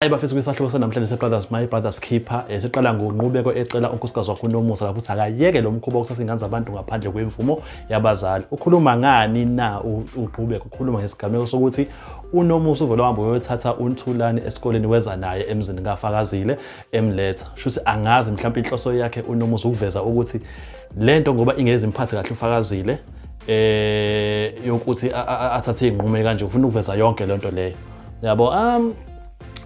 Ayi bafethu kwisahluko sanamhlanje seBrothers My Brothers Keeper eh, siqala ngonqubeko ecela unkosikazi wakho uNomusa lapho ukuthi akayeke lo mkhuba wokusasa ingane zabantu ngaphandle kwemvumo yabazali. Ukhuluma ngani na uqhubeka ukhuluma ngesigameko sokuthi uNomusa uvele wahamba uyothatha uNthulani esikoleni weza naye emzini kaFakazile emletha. Shuthi angazi mhlawumbe inhloso yakhe uNomusa ukuveza ukuthi lento ngoba ingezi imphathe kahle uFakazile eh yokuthi athathe izinqumo kanje ufuna ukuveza yonke lento leyo. Yabo um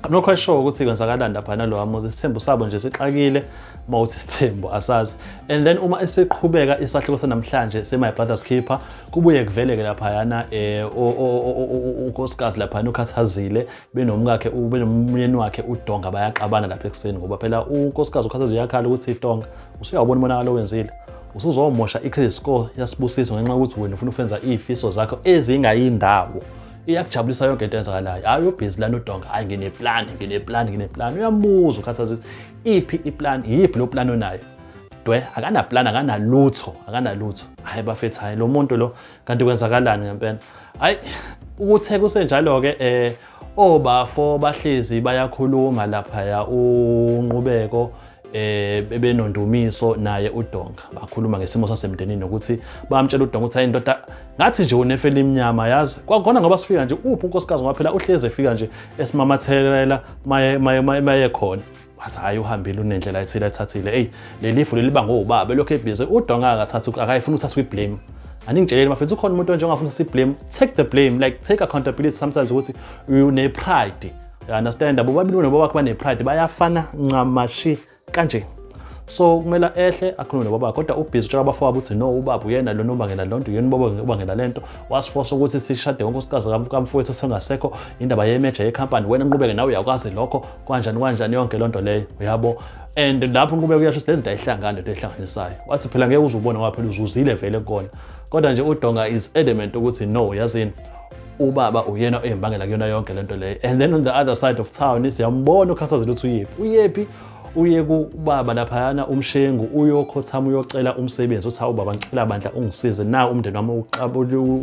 I'm not quite sure ukuthi kwenzakalani lapha nalowa muzi isithembu sabo nje sixakile uma uthi isithembu asazi and then uma esiqhubeka isahluko sanamhlanje se-my brother's keeper kubuye kuveleke laphayana eh, um unkosikazi laphayana ukhathazile benomkakhe benomyeni wakhe udonga bayaxabana lapha ekuseni ngoba phela unkosikazi ukhathazile uyakhala ukuthi idonga usuyawubona umonakalo owenzile usuzomosha i-credit score yasibusiso ngenxa yokuthi wena ufuna ukwenza iy'fiso zakho ezingayindawo iyakujabulisa yonke into enzakalayo hayi ubhizi lana udonga hayi ngineplani ngineplani ngineplani uyamuzwa ukhathazisa iphi iplani iyiphi lo plani onayo dwe akanaplani akanalutho akanalutho hhayi bafethu hhayi lo muntu lo kanti kwenzakalani ngempela hhayi ukuthe kusenjalo-ke um obafo bahlezi bayakhuluma laphaya unqubeko eh bebenondumiso naye udonga bakhuluma ngesimo sasemndenini nokuthi bamtshela udonga ukuthi hayi ndoda ngathi nje unefeli imnyama yazi kwakhona ngoba sifika nje uphi unkosikazi ngoba phela uhleze efika nje esimamathelela maye maye maye khona wathi hayi uhambile unendlela ethile ethathile eyi leli fu leliba ngowubaba elokhu ebhize udonga akathathi akayifuni ukuthatha kwi-blame aningitsheleli mafethu ukhona umuntu onje ongafuna si-blame take the blame like take accountability sometimes ukuthi une-pride You understand? Bobabili bona bobakho banepride bayafana ncamashi kanje. So kumele ehle akhulume nobaba kodwa ubhizi utshela abafo wabo ukuthi no ubaba uyena lona ubangela lonto yena ubaba ubangela lento wasifosa ukuthi sishade ngonkosikazi kamfowethu sengasekho indaba yemeja yecompany wena nqubeke nawe uyakwazi lokho kwanjani kwanjani yonke lonto leyo uyabo and lapho nqubeka uyasho ukuthi lezinto ayihlangani lento ehlanganisayo wathi phela ngeke uzubona waphela uzuzile vele kona kodwa nje udonga is adamant ukuthi no yazini ubaba uyena oyimbangela kuyona yonke lento leyo and then on the other side of town siyambona ukhathazile ukuthi uyephi uyephi uye kubaba laphayana umshengu uyokhothama uyocela umsebenzi uthi hawu baba ngicela bandla ungisize na umndeni wami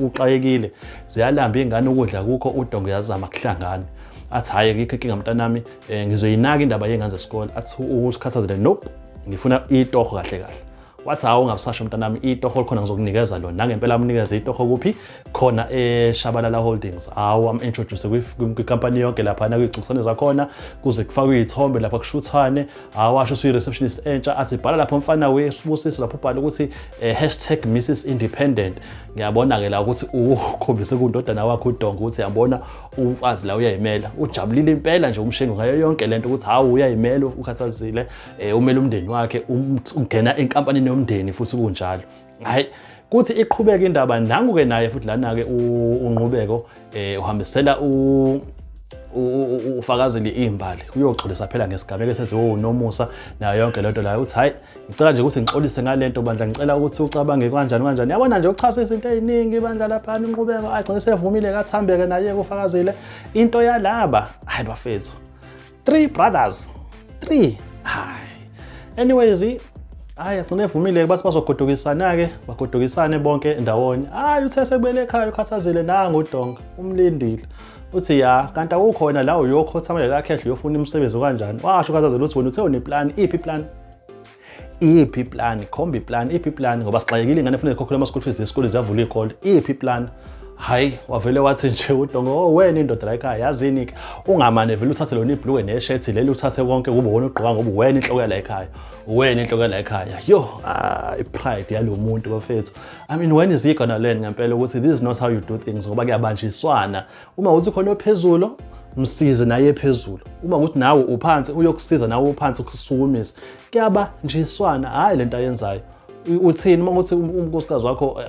uxakekile ziyalamba ingane ukudla kukho udongo yazama kuhlangana athi hhayi ngikho inkinga mntanami um eh, ngizoyinaka indaba yey'ngane zesikole athi ukukhathazele nope ngifuna itoho kahle kahle wathi hawu ungabusasho mntanami itoho likhona ngizokunikeza lona nangempela amnikeza itoho kuphi khona eshabalala holdings hawu am-introduce kwikampani yonke laphana kuyigcubisane zakhona kuze kufakwe iy'thombe lapha kushuthane hawu asho usuyi-receptionist entsha athi bhala lapho mfana wesibusiso lapho ubhale ukuthi um eh, hashtag mrs independent ngiyabona-ke la ukuthi ukhombise kundodana wakho udonga ukuthi yabona umfazi la uyayimela ujabulile impela nje umshengu ngayo yonke le nto ukuthi hawu uyayimela ukhathazile eh, umele umndeni wakhe um, ungena enkampanini yomndeni futhi kunjalo hayi kuthi iqhubeke indaba nangu-ke naye futhi lana-ke unqubeko um eh, uhambisela ufakazile iy'mbali uyoxolisa phela ngesigameko esenziwe unomusa nayo yonke lento layo uthi hhayi ngicela nje ukuthi ngixolise ngale nto bandla ngicela ukuthi ucabange kanjani kanjani yabona nje uchase izinto ey'ningi bandla laphana inqubeko agcine sevumile kathambeke naye kufakazile into yalaba hhayi bafethu three brothers three hayi anyways hayi agcine evumile bathi bazogodukisana-ke bagodukisane bonke ndawonye hayi uthe sekubele ekhaya ukhathazile nangu udonga umlindile uthi ya kanti awukhona la uyokhothamela lakhe endlu yofuna imisebenzi kanjani washo ukhathazile ukuthi wena uthe uneplani iphi iplani iphi plan khomba iplan iphi plan ngoba sixakekile ingane funeka ikhokhele ama-school fees zesikole ziyavula iy'kole iphi plan hayi wavele wathi nje udongo oh wena indoda la ekhaya yazini ke ungamane vele uthathe lona ibhluke neshethi leli uthathe konke kube wona ugqoka ngoba wena inhloko yala ekhaya wena inhloko yala ekhaya yo ah, i-pride yalo muntu bafethu i mean when is he gonna learn ngempela ukuthi this is not how you do things ngoba kuyabanjiswana uma ukuthi khona ophezulu msize naye phezulu uma ukuthi nawe uphansi uyokusiza nawe uphansi ukusukumisa kuyaba njiswana hhayi le nto ayenzayo uthini uma ukuthi um-, unkosikazi wakho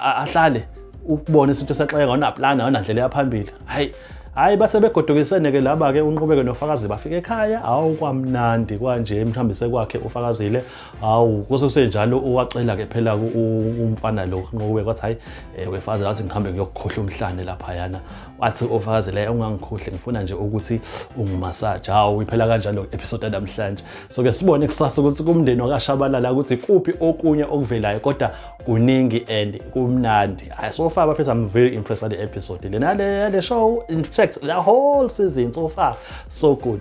ahlale ukubona isinto saxeka awunaplani awunandlela yaphambili hhayi hhayi base begodukisene-ke laba-ke unqubeke nofakazi bafike ekhaya awu kwamnandi kwanje mhlawumbe sekwakhe ufakazile hawu kuse kusenjalo uwacela ke phela umfana lo nqobe kwathi hayi eh, wefazi lathi ngihambe ngiyokukhohla umhlane lapha yana wathi ofakazi la ungangikhohle ngifuna nje ukuthi ungimassage hawu iphela kanjalo episode namhlanje so ke sibone kusasa ukuthi kumndeni wakashabalala ukuthi kuphi okunye okuvelayo kodwa kuningi and kumnandi hayi so far bafethu i'm very impressed with the episode lena le show in fact the whole season so far so good